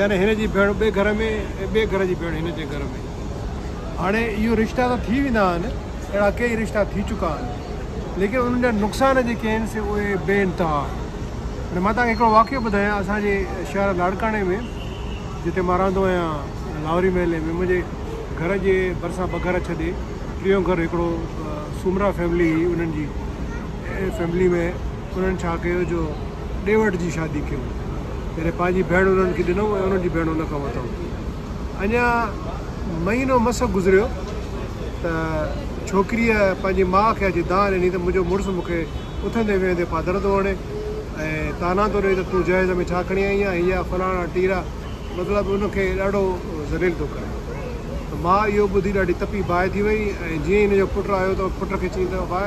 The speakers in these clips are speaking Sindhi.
يعني هن جي ڀيڻ ٻئي گهر ۾ ۽ ٻئي گهر جي ڀيڻ هن جي گهر ۾. هاڻي اهي رشتا ته ٿي ويندا آهن، اهڙا ڪيئي رشتا ٿي چڪا آهن، ليڪن انهن جا نقصان جيڪي آهن سي اهي بي انتها آهن. هاڻي مان توهان کي هڪڙو واقعو ٻڌايان اسان جي شهر لاڙڪاڻي ۾ جتي مان رهندو آهيان لاهوري محلي ۾ منهنجي گهر جي ڀرسان ٻه گهر ڇڏي ٽيون گهر هڪڙو سومرا فيملي هئي انهن جي فيملي ۾ انهن ڇا ڪيو جو ڏي وٺ جي شادي ڪيو جڏهن پنهنجي ڀيڻ انهن کي ڏنو ۽ انهن جي ڀيڻ ان کان وتئون. اڃا مهينو مس گذريو ته ڇوڪريء پنهنجي ماء کي اچي دانهن ڏني ته منهنجو مڙس مون کي اٿندي ويهندي پادر ٿو هڻي ۽ طعنا ٿو ڏئي ته تون جهيز ۾ ڇا کڻي آئي آهين يا فلاڻا ٽيرا مطلب ان کي ڏاڍو ذليل ٿو ڪري ته ماء اهو ٻڌي ڏاڍي تپي باهه ٿي وئي ۽ جيئن ئي ان جو پٽ آيو ته پٽ کي چيائين ته باء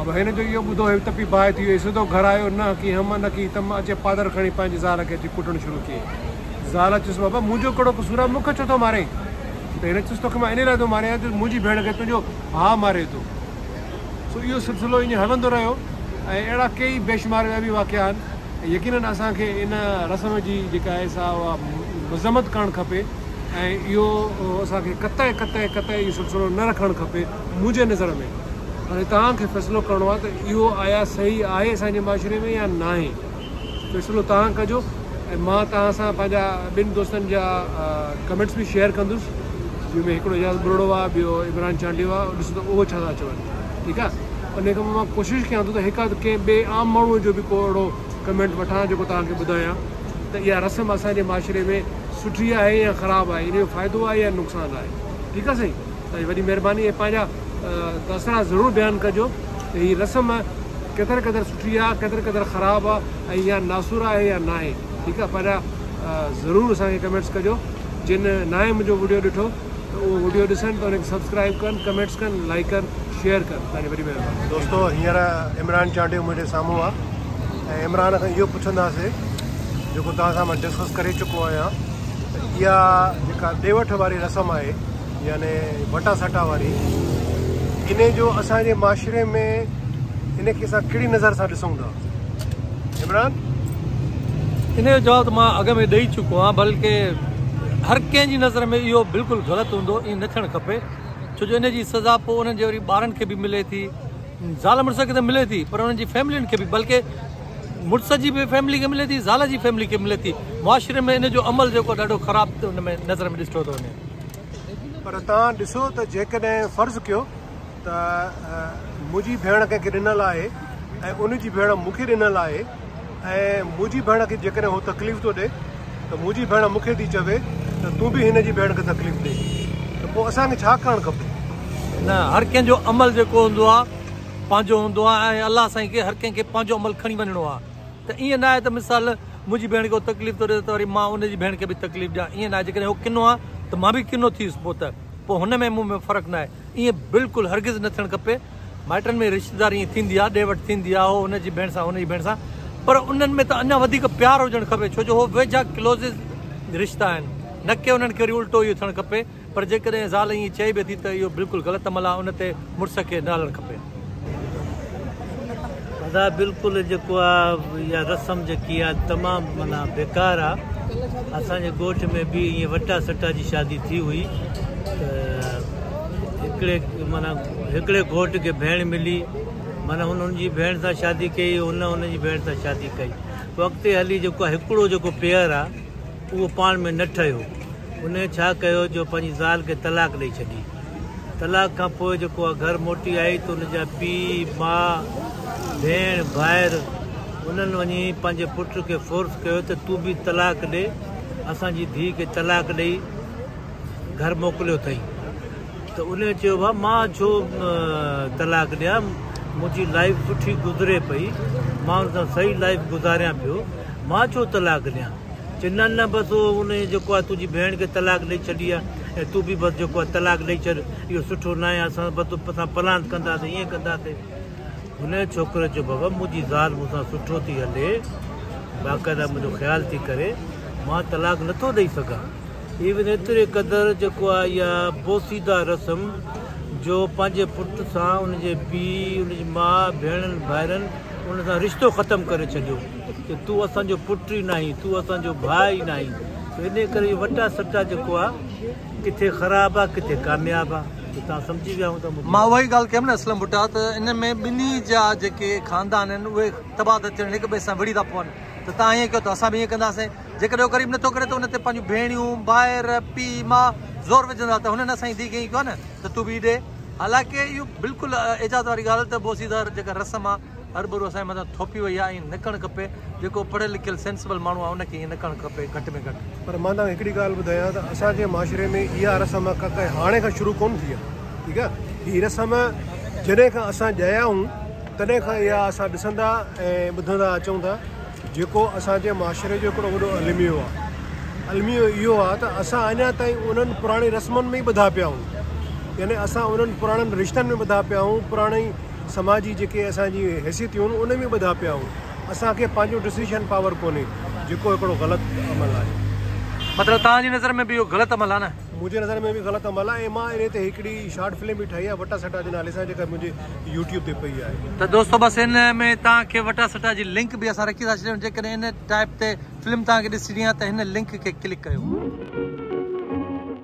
اب هن جو اهو ٻڌو هيو تپي باهه ٿي ويئي سڌو گهر آيو نه ڪي هم نه ڪي تم اچي پادر کڻي پنهنجي زال کي اچي ڪٽڻ شروع ڪيئي زال چيس بابا منهنجو ڪهڙو قصور آهي مون کي ڇو ٿو مارين ته هن چيس توکي مان انهي لاء ٿو ماريان جو منهنجي ڀيڻ کي تنهنجو ڀاء ماري ٿو سو اهو سلسلو ايئن هلندو رهيو ۽ اهڙا ڪيئي بيشمار ٻيا به واقعا آهن ۽ يقينن اسان کي ان رسم جي جيڪا آهي سا اها مذمت ڪرڻ کپي ۽ اهو اسان کي قطع قطع قطع اهو سلسلو نه رکڻ کپي. منهنجي نظر ۾ هاڻي توهان کي فيصلو ڪرڻو آهي ته اهو آيا صحيح آهي اسان جي معاشري ۾ يا ناهي فيصلو توهان ڪجو ۽ مان توهان سان پنهنجا ٻن دوستن جا ڪمينٽس به شيئر ڪندس جن ۾ هڪڙو اعجاز ٻرڙو آهي ٻيو عمران چانڊيو آهي ڏسو ته اهو ڇا ٿا چون ٺيڪ آهي ان کان مان ڪوشش ڪيان ٿو ته هڪ اڌ ڪنهن ٻئي عام ماڻهو جو به ڪو اهڙو ڪمينٽ وٺان جيڪو توهان کي ٻڌايان ته اها رسم اسان جي معاشري ۾ سٺي آهي يا خراب آهي ان جو فائدو آهي يا نقصان آهي ٺيڪ آهي سائين. تاجي وڏي مھرباني ۽ پنهنجا تاثرات ضرور بيان ڪجو ته هي رسم ڪيتر قدر سٺي آ ڪيتر قدر خراب آ ۽ يا ناسور آهي يا ناهي ٺيڪ آ پنهنجا ضرور اسان کي ڪمينٽس ڪجو جن ناهي منهنجو وڊيو ڏٺو ته اهو وڊيو ڏسن ته انکي سبسڪرائب ڪن ڪمينٽس ڪن لائڪ ڪن شيئر ڪن تاجي وڏي مھرباني. دوستو هينئر عمران چانڊيو منهنجي سامهون آ ۽ عمران کان اهو پڇنداسي جيڪو توهان سان مان ڊسڪس ڪري چڪو آهيان ته اها جيڪا ڏي وٺ واري رسم آهي يعني وٽا سٽا واري ان جو اسان جي معاشري ۾ ان کي اسان ڪهڙي نظر سان ڏسون ٿا عمران ان جو جواب ته مان اڳ ۾ ڏئي چڪو آهيان بلڪه هر ڪنهن جي نظر ۾ اهو بلڪل غلط هوندو ائين نه ٿيڻ کپي ڇو جو ان جي سزا پوء انهن جي وري ٻارن کي به ملي ٿي زال مڙس کي ته ملي ٿي پر انهن جي فيملين کي به بلڪه مڙس جي به فيملي کي ملي ٿي زال جي فيملي کي ملي ٿي معاشري ۾ ان جو عمل جيڪو ڏاڍو خراب ان ۾ نظر ۾ ڏٺو ٿو وڃي پر توهان ڏسو ته جيڪڏهن فرض ڪيو ته منهنجي ڀيڻ ڪنهن کي ڏنل آهي ۽ ان جي ڀيڻ مون کي ڏنل آهي ۽ منهنجي ڀيڻ کي جيڪڏهن هو تڪليف ٿو ڏي ته منهنجي ڀيڻ مون کي ٿي چوي ته تون به هن جي ڀيڻ کي تڪليف ڏي ته پوء اسانکي ڇا ڪرڻ کپي نه هر ڪنهن جو عمل جيڪو هوندو آهي پنهنجو هوندو آهي ۽ الله سائين کي هر ڪنهن کي پنهنجو عمل کڻي وڃڻو آهي ته ائين ناهي ته مثال منهنجي ڀيڻ کي ڪو تڪليف ٿو ڏي ته وري مان ان جي ڀيڻ کي به تڪليف ڏيان ائين ناهي جيڪڏهن هو ڪنو آهي ته مان به ڪنو ٿيس پوء ته پوء هن ۾ مون ۾ فرق ناهي ائين بلڪل هرگز نه ٿيڻ کپي مائٽن ۾ رشتيداري ائين ٿيندي آهي ڏي وٺ ٿيندي آهي هو هن جي ڀيڻ سان هو هن جي ڀيڻ سان پر انهن ۾ ته اڃا وڌيڪ پيار هجڻ کپي ڇو جو هو ويجها ڪلوزز رشتا آهن نه ڪي انهن کي وري الٽو اهو ٿيڻ کپي پر جيڪڏهن زال ائين چئي به ٿي ته اهو بلڪل غلط عمل آهي ان تي مڙس کي نه هلڻ کپي. ادا بلڪل جيڪو آ اها رسم جيڪي آ تمام معنيٰ بيڪار آ اسان جي ڳوٺ ۾ به ائين وٽا سٽا جي شادي ٿي هئي ته هڪڙي معنيٰ هڪڙي گهوٽ کي ڀيڻ ملي معنيٰ هن هن جي ڀيڻ سان شادي ڪئي هن هن جي ڀيڻ سان شادي ڪئي پوء اڳتي هلي جيڪو آ هڪڙو جيڪو پيئر آ اهو پاڻ ۾ نه ٺهيو. انهيء ڇا ڪيو جو پنهنجي زال کي طلاق ڏئي ڇڏي. طلاق کان پوء جيڪو اها گهر موٽي آئي ته ان جا پيء، ماء، ڀيڻ، ڀائر انهن وڃي پنهنجي پٽ کي فورس ڪيو ته تون به طلاق ڏي. اسان جي ڌيء کي طلاق ڏئي گهر موڪليو اٿئي. ته انهيء چيو ڀاء مان ڇو طلاق ڏيان. منهنجي لائيف سٺي گذري پئي. مان ان سان صحيح لائيف گذاريان پيو. مان ڇو طلاق ڏيان. چي نه نه بس او ان جيڪو آ تنهنجي ڀيڻ کي طلاق ڏئي ڇڏي آ ۽ تون به بس جيڪو آ طلاق ڏئي ڇڏ اهو سٺو ناهي اسان بس تو سان پلاند ڪنداسين ائين ڪنداسين هن ڇوڪري چيو بابا منهنجي زال مون سان سٺو ٿي هلي باقاعده منهنجو خيال ٿي ڪري مان طلاق نٿو ڏئي سگهان ايون ايتري قدر جيڪو آ يا بوسيده رسم جو پنهنجي پٽ سان ان جي پي ان جي ماء ڀيڻن ڀائرن ان سان رشتو ختم ڪري ڇڏيو ته تون اسان جو پٽ ئي ناهين، تون اسان جو ڀاء ئي ناهين، سو انهيء ڪري اهو وٽا سٽا جيڪو آ، ڪٿي خراب آ، ڪٿي ڪامياب آ، سو توهان سمجهي ويا هوندا مون کي. مان اها ئي ڳالهه ڪيم نه اسلم ڀٽا ته ان ۾ ٻنهي جا جيڪي خاندان آهن، اهي تباهه ٿا ٿين، هڪ ٻئي سان وڙهي ٿا پون، ته توهان ائين ڪيو ته اسان به ائين ڪنداسين، جيڪڏهن اهو غريب نٿو ڪري ته ان تي پنهنجون ڀيڻيون، ڀائر، پيء، ماء زور وجهندا ته هنن اسان جي ڌيء کي ائين ڪيو آ نه ته تون به ئي ڏي. حالانڪه اهو بلڪل اعجاز واري ڳالهه ته بوسيدار جيڪا رسم آ، هرڀرو اسان جي مٿان ٿوپي وئي آهي ائين نه ڪرڻ کپي جيڪو پڙهيل لکيل سينسبل ماڻهو آهي ان کي ائين نه ڪرڻ کپي گهٽ ۾ گهٽ. پر مان توهان کي هڪڙي ڳالهه ٻڌايان ته اسان جي معاشري ۾ اها رسم ڪا هاڻي کان شروع ڪونه ٿي آهي ٺيڪ آهي هي رسم جڏهن کان اسان ڄايا آهيون تڏهن کان اها اسان ڏسندا ۽ ٻڌندا اچون ٿا جيڪو اسان جي معاشري جو هڪڙو وڏو الميو آهي الميو اهو آهي ته اسان اڃا تائين انهن پراڻي رسمن ۾ ئي ٻڌا پيا آهيون يعني اسان انهن پراڻن رشتن ۾ ٻڌا پيا آهيون پراڻي سماجي جيڪي اسان جي حيثيتيون آهن ان ۾ ٻڌا پيا آهيون اسان کي پنهنجو ڊسيشن پاور ڪونهي جيڪو هڪڙو غلط عمل آهي. مطلب تهان جي نظر ۾ به اهو غلط عمل آهي نه؟ منهنجي نظر ۾ به غلط عمل آهي ۽ مان انهي تي هڪڙي شارٽ فلم به ٺاهي آهي وٽا سٽا جي نالي سان جيڪا منهنجي يوٽيوب تي پئي آهي. ته دوستو بس ان ۾ تهان کي وٽا سٽا جي لنڪ به اسان رکي ٿا ڇڏيون جيڪڏهن ان ٽائپ تي فلم تهان کي ڏسڻي آهي ته هن لنڪ کي ڪلڪ ڪريو.